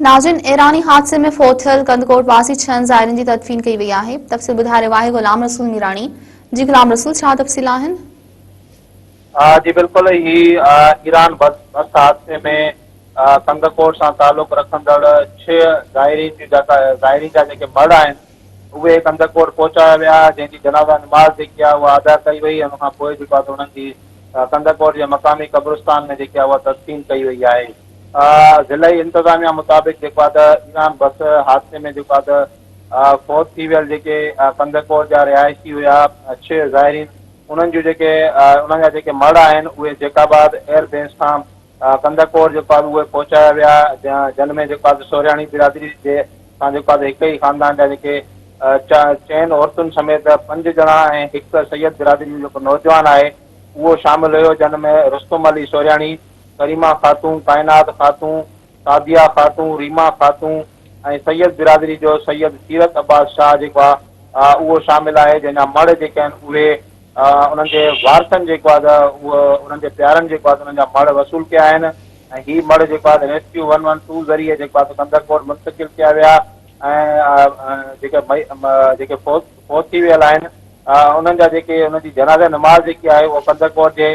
ناظرين ايراني حادثي ۾ فوت ٿيل ڪنڌڪوٽ واسي ڇهن زائرين جي تدفين ڪئي وئي آهي تفصيل ٻڌائي رهيو آهي غلام رسول ميراڻي جي غلام رسول ڇا تفصيل آهن جي بلڪل هي ايران بس بس حادثي ۾ ڪنڌڪوٽ سان تعلق رکندڙ ڇهه زائرين جون جيڪا زائرين جا جيڪي مڙ آهن اهي ڪنڌڪوٽ پهچايا ويا جنهن جي جنازا نماز جيڪي آهي اها ادا ڪئي وئي ان کان پوء جيڪو آهي انهن جي ڪنڌڪوٽ جي مقامي قبرستان ۾ جيڪي آهي اها تدفين ڪئي وئي آهي ضلعي انتظاميا مطابق جيڪو آهي ته ايران بس حادثي ۾ جيڪو آهي ته فوت ٿي ويل جيڪي ڪنڌڪوٽ جا رهائشي هيا ڇهه زائرين انهن جون جيڪي انهن جا جيڪي مڙهه آهن اهي جيڪب آباد ايئر بيس کان ڪنڌڪوٽ جيڪو آهي اهي پهچايا ويا جن ۾ جيڪو آهي ته سورهياڻي برادري جي سان جيڪو آهي ته هڪ ئي خاندان جا جيڪي چئن عورتن سميت پنج ڄڻا ۽ هڪ سيد برادري جو جيڪو نوجوان آهي اهو شامل هيو جن ۾ رستم علي سورهياڻي ڪريما خاتون، ڪائنات خاتون، سعديه خاتون، ريما خاتون ۽ سيد برادري جو سيد سيرت عباس شاهه جيڪو آ اهو شامل آهي جنهن جا مڙهه جيڪي آهن اهي انهن جي وارثن جيڪو آ ته اهو انهن جي پيارن جيڪو آ ته انهن جا مڙهه وصول ڪيا آهن ۽ هي مڙهه جيڪو آ ته ريسڪيو ون ون ٽو ذريعي جيڪو آ ته ڪنڌرڪوٽ منتقل ڪيا ويا ۽ جيڪي مئي جيڪي فوت فوت ٿي ويل آهن انهن جا جيڪي انهن جي جنازه نماز جيڪي آهي اهو ڪنڌرڪوٽ جي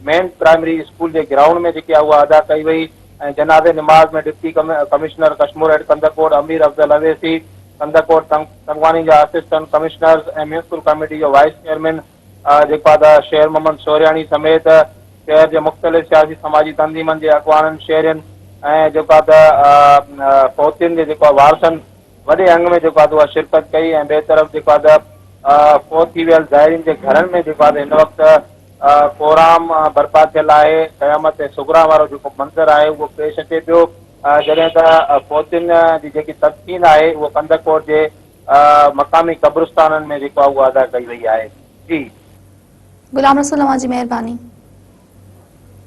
مين پرائمري اسڪول جي گرائونڊ ۾ جيڪي آهي اها ادا ڪئي وئي ۽ جنازي نماز ۾ ڊپٽي ڪمشنر ڪشمور ايڊ ڪنڌڪوٽ امير افضل اويسي، ڪنڌڪوٽ تنگواڻي جا اسسٽنٽ ڪمشنرز ۽ ميونسپل ڪاميٽي جو وائيس چيئرمين جيڪو آهي ادا شير محمد سورهياڻي سميت شهر جي مختلف سياسي سماجي تنظيمن جي اڳواڻن شهرين ۽ جيڪو آهي ادا فوتين جي جيڪو آهي وارثن وڏي انگ ۾ جيڪو آهي اها شرڪت ڪئي ۽ ٻئي طرف جيڪو آهي ادا فوت ٿي ويل زائرين جي گهرن ۾ جيڪو آهي هن وقت ڪورام برپا ٿيل آهي. قيامت صغريٰ وارو جيڪو منظر آهي اهو پيش اچي پيو جڏهن ته فوتين جي جيڪي تدفين آهي اهو ڪنڌڪوٽ جي مقامي قبرستانن ۾ جيڪو آهي اهو ادا ڪئي وئي آهي جي. غلام رسول اوهان جي مهرباني.